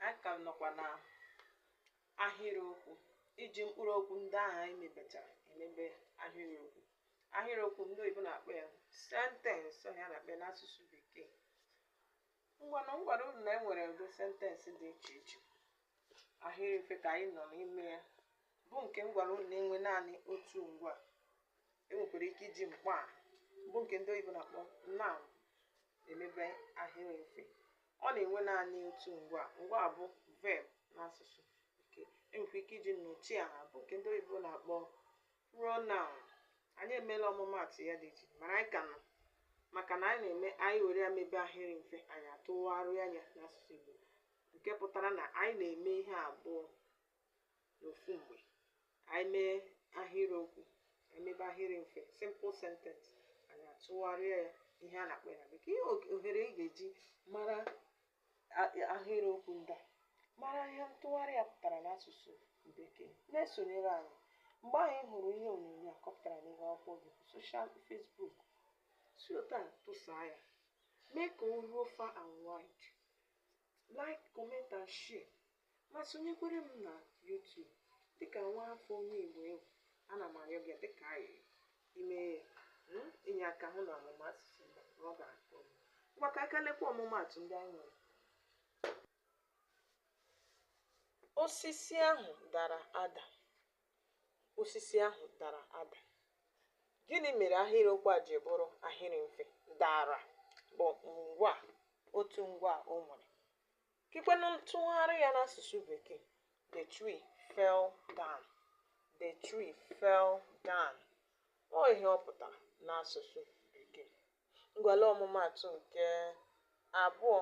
anyị ka nọkwa na ahịrịokwu iji mkpụrụ okwu ndị ahụ anyị mebechara emebe ahịrịokwu ahịrịokwu ndị oyibo na-akpọ ya sentence ọ ihe a na-akpọ n'asụsụ bekee ngwanụ m gwara unu na e nwere ụdị sentence dị iche iche ahịrị mfe ka anyị nọ n'ime ya bụ nke m gwara unu na-enwe naanị otu ngwaa e nwekwara ike iji mkpọaha bụ nke ndị oyibo na-akpọ noun emebe ahịrị mfe ọ na-enwe naanị otu ngwaa ngwaa bụ verb n'asụsụ bekee e nwekwa ike iji nnọchiaha bụ nke ndị oyibo na-akpọ pronoun anyị emeela ọmụmaatụ ya dị iche mana anyị ka nọ maka na anyị na-eme anyị were ya mebe ahịrị mfe anyị atụgharịa ya n'asụsụ igbo nke pụtara na anyị na-eme ihe abụọ n'ofu mgbe ka anyị mee ahịrịokwu ka anyị mebe ahịrị mfe simple sentence anyị atụgharịa ya ihe a na-akpọ ya na bekee ihe og- ohere ị ga-eji mara a- ahịrịokwu ndị a mara ihe ntụgharị ya pụtara n'asụsụ bekee na-esonyere anyị mgbe anyị hụrụ ihe onyonyo a ka ọ pụtara n'ihu akwụkwọ gị bụ social facebook si otu a tụsaa ya mee ka o ruo far and wide like comment and share ma sonyekwere m na YouTube dịka nwa afọ onye Igbo ị bụ ana m arịọ gị dịka anyị ime hmm, inye aka hụ na ọmụmụ asụsụ Igbo na ọ ga-akọ ngwa ka a lekwa ọmụmaatụ ndị anyị nwere osisi ahụ dara ada osisi ahụ dara ada gịnị mere ahịrịokwu a ji bụrụ ahịrị mfe dara bụ ngwaa otu ngwaa o nwere Kekwenụ ntụgharị ya n'asụsụ Bekee, the tree fell down. The tree fell down. Ọ ihe ọ pụtara n'asụsụ Bekee. Ngwa lee ọmụmaatụ nke abụọ,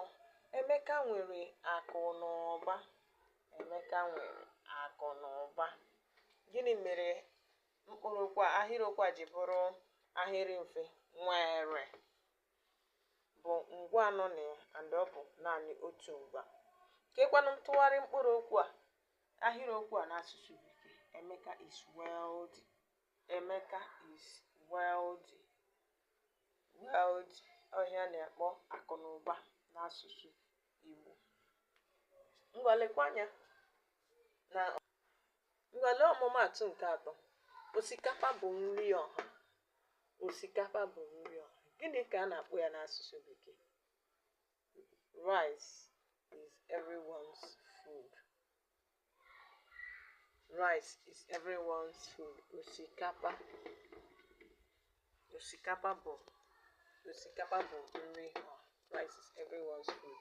Emeka nwere akụ na ụba. Emeka nwere akụ na ụba. Gịnị mere mkpụrụ okwu a ahịrịokwu a ji bụrụ ahịrị mfe? Nwere. bụ ngwaa nọ na ya and ọ bụ naanị otu ngwaa kekwanụ ntụgharị mkpụrụ okwu a ahịrịokwu a n'asụsụ bekee emeka is wealthy emeka is wealthy wealthy ọ ihe a na-akpọ akụ na ụba n'asụsụ igbo ngwa lekwa anya na Ngwa lee ọmụmaatụ nke atọ. Osikapa bụ nri ọha. Osikapa bụ nri ọha. Gịnị ka a na-akpọ ya n'asụsụ Bekee? Rice is everyone's food. Rice is everyone's food. Osikapa. Osikapa bụ osikapa bụ nri ọha. Rice is everyone's food.